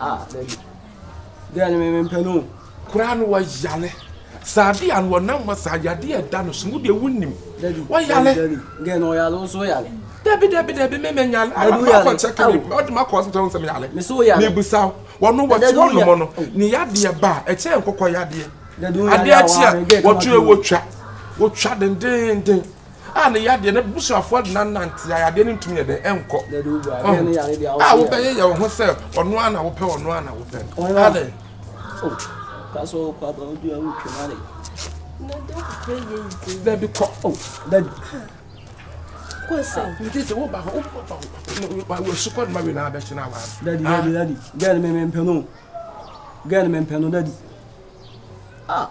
Ah, baby. Girl no me me mpɛ no. Koraa no wayale. Saa adeɛ a no wɔnam ma saa yadeɛ a ɛda no so no deɛ wonim. Wayale. Girl no ɔyale nso yale. Dabi dabi dabi me me nyale. Dabi woyale. Amakɔ kyɛkɛ mi ɔde ma kɔ hospital nsɛm yale. Me so woyale. Mi busa wo. Wɔn wɔte wɔn nom no. Ne yadeɛ ba ɛkyɛn nkokɔ yadeɛ. Dabi woyale awa. Adeɛ akyi a wɔtwe wotwa wotwa dendenden. a ne yadeɛ na abusuafoɔ de no anante a yadeɛ no ntumi yɛ dɛn nkɔ a wobɛyeyɛ wo ho sɛ ɔno a na wopɛ ɔno a na wopɛ no adɛn dabi kɔ dabi nti wo ba hɔ wɔsu kɔ noma wei na abɛkyena awa dadi dadi dadi gɛn me mempɛ no gɛn me mpɛ no dadi ah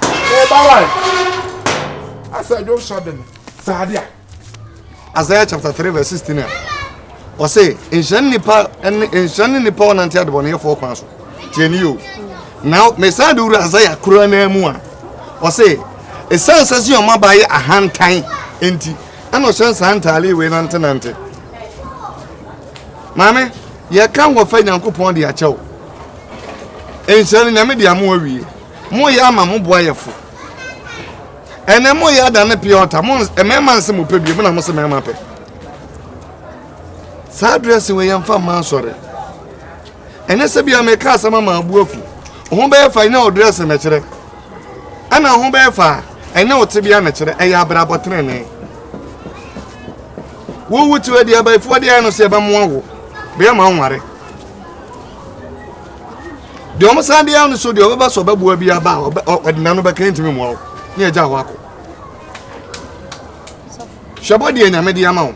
Ɔba wa asɛ dwo sɔ de no saa de a. Isaiah chapter three verse sixteen a ɔsɛ nhyira ne nipa ne nhyira ne nipa ɔnante adebɔneyɛfoɔ kwan so tiɛ ne yio na mesan de wura Isaiah kura naa mu a ɔsɛ ɛsiane sɛ sɛ ɔma ba yɛ ahantan nti ɛna ɔhyɛ nsaa ntaale wei nantenante Maame, yɛka wɔfa Nyankopɔn de akyɛ wo. Nhyira no Nyame de ama awie. Moyɛ ama mo boayɛfo. Ɛnɛ moyɛ adane pia ɔta. Mo mmarima nse mo pɛ bio, mo na mo se mmarima pɛ. Saa dress wɔ yɛn fa mma asɔre. Ɛnɛ sɛ bia meka asɛm ama abu afu. Ho bɛyɛ fa ɛnɛ ɔdress na kyerɛ. Ɛna ho bɛyɛ fa ɛnɛ ɔte bia na kyerɛ. Ɛyɛ abrabɔ trenee. Wo wo tiwa di abayifoɔ deɛ no sɛ ɛbɛmoa wo bɛyɛ ma nware deɛ ɔmo san deɛ no so deɛ ɔbɛba so ɔbɛboa bi aba a ɔde nano bɛka ntumi mmoa wo ne agya hɔ akɔ hwɛ bɔ deɛ nyame de ama wo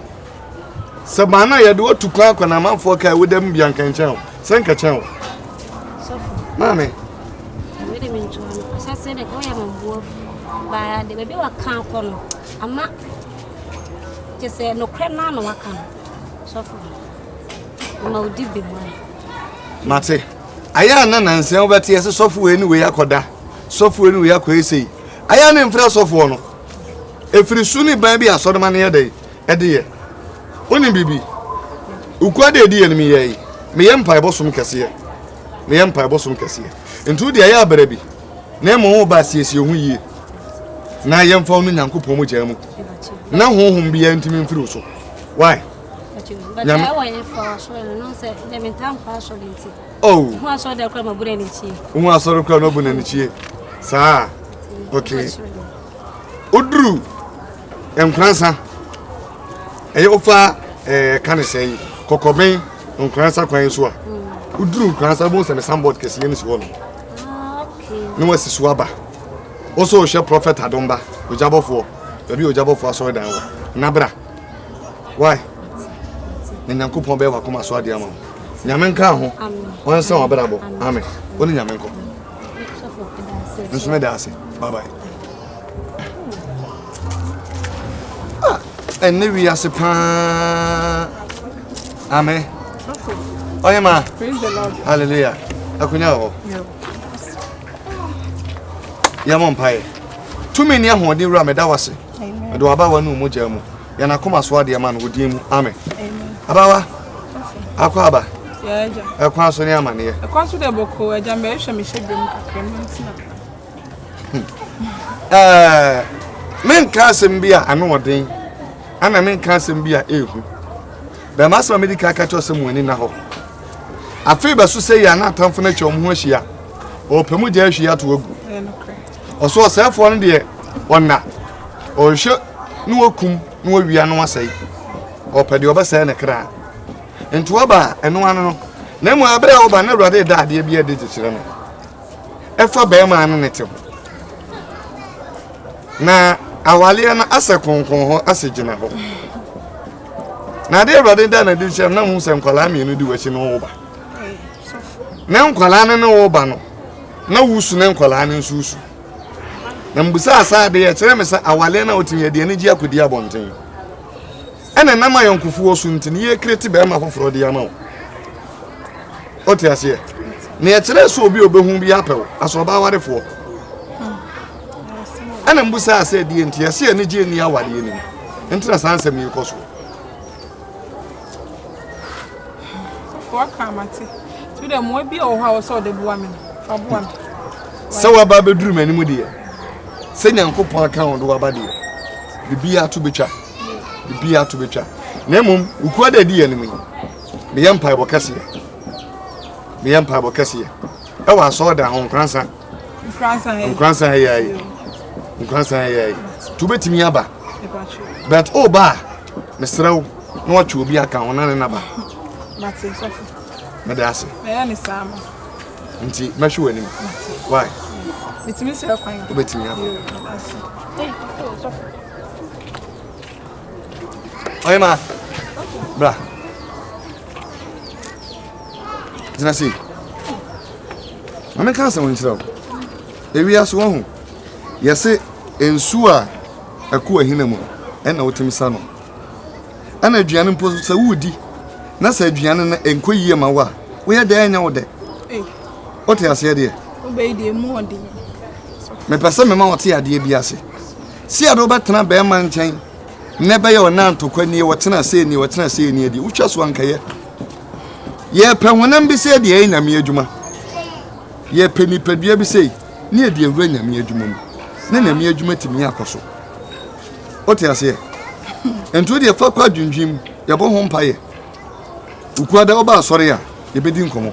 sɛ maa no a yɛde watu kwan akɔ na amanfoɔ kaa woda mu bia nka nkyɛn wo sɛ nka kyɛn wo maame Bye. The baby will come. I'm not. Kyɛ sɛ nokorɛ no ara na waka no, sɔfo no, ama ɔdi bem a. Mate. Ayɛ a na nansa wobɛte ɛsɛ sɔfo wei ne wei akɔda, sɔfo wei ne wei akɔyɛ sei. Ayɛ a ne mfrɛ sɔfoɔ no. Ɛfiri su ne ban bi a asɔrema no yɛ dɛn ɛde yɛ. Wonim biribi? Wokura deɛ ɛdi yɛ no mu yɛe. Meyɛ mpaebɔ som kɛseɛ. Meyɛ mpaebɔ som kɛseɛ. Nti wo deɛ ayɛ a bra bi. na mmom wo ba siesie ho yie na yɛmfa wo no nyankopɔn mu gyaa mu na honhom biara ntumi mfiri wo so why nyame oh ho asɔre kora mabu n'ani kyie saa okay oduru nkransa ɛyɛ wofa ɛɛ eh, ka ne sɛn kɔkɔben nkransa kwan so a hmm. oduru nkransa bo sɛ ne sanbɔd kɛseɛ no si hɔ no ne wasi so aba wo so wohwɛ prɔfɛt adomba ogyabɔfoɔ baabi ogyabɔfoɔ asɔredan wɔ na bra wai na nyankopɔn bɛyɛ wakoma so adeɛ ama wo nyame nka ho ɔnsa wabrabɔ amen wo ne nyame nkɔ nso meda ase babae Ah, ɛnne wiase paa. Amen. Ɔyɛ ma. Hallelujah. Akunya wɔ hɔ. Yɛmɔ mpaeɛ. Tumi ne ahoɔden wura meda wase. Mede w'abawa ne omogya mu. Yɛn akoma so adeɛ ma no wo din mu. Amen. Abawa. Akɔ aba. Ɛkwan so ne amaneɛ. Ɛkwan so deɛ bɔkɔ agya mbɛhwɛ mehyɛ biom kakra mu ntina. eh, menka asɛm bi a ano ɔden ana menka asɛm bi a ɛhu bɛma asɛm a mede ka ka kyerɛ sɛ mo ani na hɔ afei bɛso sɛ yɛ ana atamfo no atwa wɔn ho ahyia ɔpɛ mu gya ahwie ato agu ɔso ɔsɛefoɔ no deɛ ɔna ɔhwɛ ne wakum ne wawia no asɛe ɔpɛ deɛ ɔbɛsɛe ne kra nti wɔba ɛno ano no na mmom aberɛ a wɔba na awurade da adeɛ bi adi gye kyerɛ no ɛfa bɛrima a ne ne te ho. Na awareɛ no asɛ kronkron hɔ asɛ gyina hɔ. Na adeɛ awurade da na di hyɛ na mu sɛ nkwadaa mmienu di w'akyi no wo ba. Na nkwadaa no ne wo ba no na wusu ne nkwadaa no nso wusu. Na mbusa asa adeɛ ɛkyerɛ me sɛ awareɛ no a wotumi adeɛ no gye akɔdi abɔnten. Ɛna nam ayɔnkofoɔ so nti no yɛ create bɛɛma foforɔ de ama wo. O te aseɛ? Na ɛkyerɛ sɛ obi obehu bi apɛ wo asɛ ɔbaa warefoɔ. Ɛna mbusa asɛ ɛdeɛ nti ɛsɛ anigye nni awareɛ no mu. Nti na saa nsɛm yi kɔ so. Sɛ waba abɛduru m'anim deɛ sɛ Nyankopɔn aka wo de waba deɛ biribiara to bɛtwa. ebi ato betwa na mmom wukura da di yɛ anim yi meyɛ mpaebɔ kɛseɛ meyɛ mpaebɔ kɛseɛ ɛwɔ asɔɔdan ho nkransa nkransa ɛyɛ ayi nkransa ɛyɛ ayi tu betumi aba bɛt o ba mesrɛ wo na watwe obi aka ho na ne naba mede ase nti mɛhwe w'anim why wobɛtumi aba Ɔyɛma, bra. Gyina sei. Ma menka asɛm nkyerɛ wo. Ewia so wahu. Yɛse nsu a ɛkɔ ahina mu ɛna wotumi sa no. Ɛna aduane mpo sɛ wodi na sɛ aduane no ɛnkɔ yie ma wo a woyɛ dɛ ɛnyɛ wo dɛ. Eh. Wote aseɛ deɛ? Wobɛyi deɛ mu ɔden. Mepɛ sɛ mema wɔte adeɛ bi ase. Sia no bɛtena bɛɛma nkyɛn nɛ bɛyɛ ɔnanto kɔ nie wɔtena sei nie wɔtena sei nie deɛ wotwa so ankɛyɛ yɛpɛ honam bi sɛ deɛ ɛyɛ nyame adwuma yɛpɛ nipadua bi sɛ ne yɛde awura nyame adwuma mu ne nyame adwuma tumi akɔ so wote aseɛ nti deɛ fa kɔ adwendwem yɛbɔ ho mpayɛ wokuada woba asɔre a yɛbɛdi nkɔmmɔ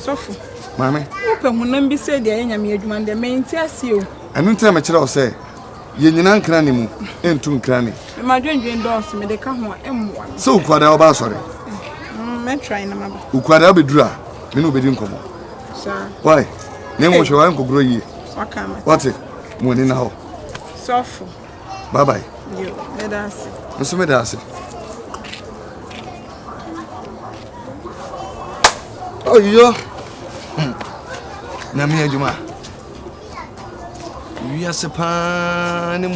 Sɔfo, Maame. wopɛ honam bi sɛ de ayɛ Nyame adwuma no dɛ, mente aseɛ o. Ɛno nti na mekyerɛ wo sɛ, yɛ nyina nkrane mu, ntu nkrane. Me m'adwendwen dɔɔso, mede ka ho a, ɛmmoa me. Sɛ Okuada ɔba asɔre? Mm, mɛ try na maba. Okuada ɔbɛduru a, me ne wobɛdi nkɔmmɔ. Saa. Why? Na mmom hwɛ w'ankɔgorɔ yie. Waka ama. Wate? Mo ani na hɔ. Sɔfo. bye bye. yo meda ase. nso meda ase. oyo nyame adwuma wiase paa ne mu.